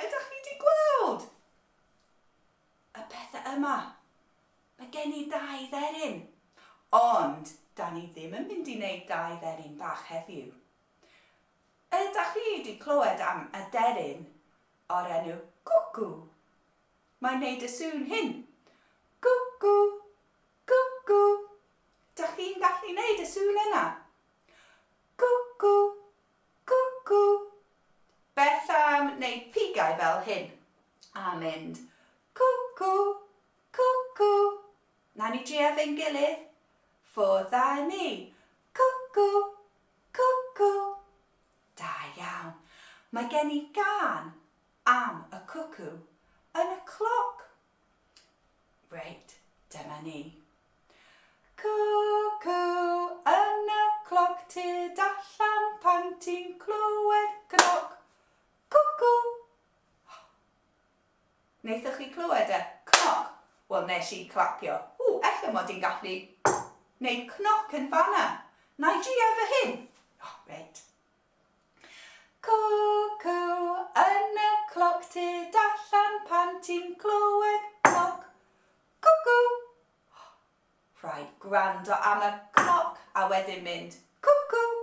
Ydych chi wedi gweld y pethau yma? Mae gen i dau dderyn. Ond, da ni ddim yn mynd i wneud dau dderyn bach heddiw. Ydych chi wedi clywed am aderyn o'r enw Gwcw? Mae'n neud y sŵn hyn. Cwcw! Cwcw! Dach chi'n gallu neud y sŵn yna? Cwcw! Cwcw! Beth am neud pigau fel hyn? A mynd cwcw! Cwcw! Na ni drio fe'n gilydd? Ffwrdd a ni. Cwcw! Cwcw! Da iawn. Mae gen i gân am y cwcw yn y cloc. Reit, dyma ni. Cwcw yn y cloc, tyd allan pan ti'n clywed cnoc. Cwcw! Wnaethoch chi clywed e? Cnoc? Wel, nes i clapio. Ww, efallai mod i'n gallu wneud cnoc yn fanna. Na i drio efo hyn. Oh, reit. Cuckoo yn y cloc tu allan pan ti'n clywed cloc, cuckoo! Rhaid gwrando am y cloc a wedyn mynd, cuckoo!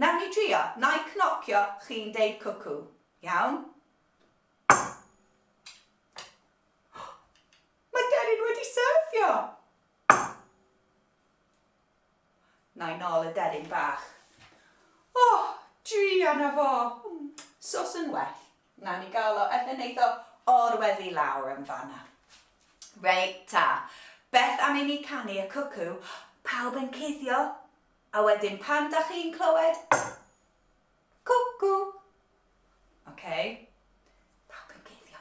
Nawn ni drio, na i cnocio, chi'n deud cuckoo. Iawn? Mae Deryn wedi syrthio! Nai nol y deryn bach. O! Druan na fo! Sos yn well. Nawn ni gael o ella neith o orweddu lawr yn fanna. Reit ta, beth am i ni canu y cwcw, pawb yn cuddio, a wedyn pan dach chi'n clywed cwcw! Ocei? Pawb yn cuddio.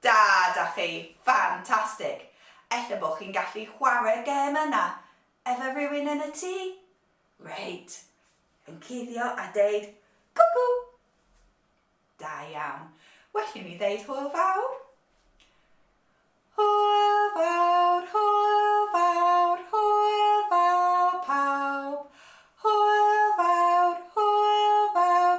Da, da chi! Ffantastig! Ella bod chi'n gallu chwarae'r gêm yna efo rhywun yn y tŷ? Reit! Yn cuddio a deud 'Cwcw'! Da iawn. Well i mi ddeud hwyl fawr? Hwyl fawr, hwyl fawr, hwyl fawr pawb! Hwyl fawr, hwyl fawr,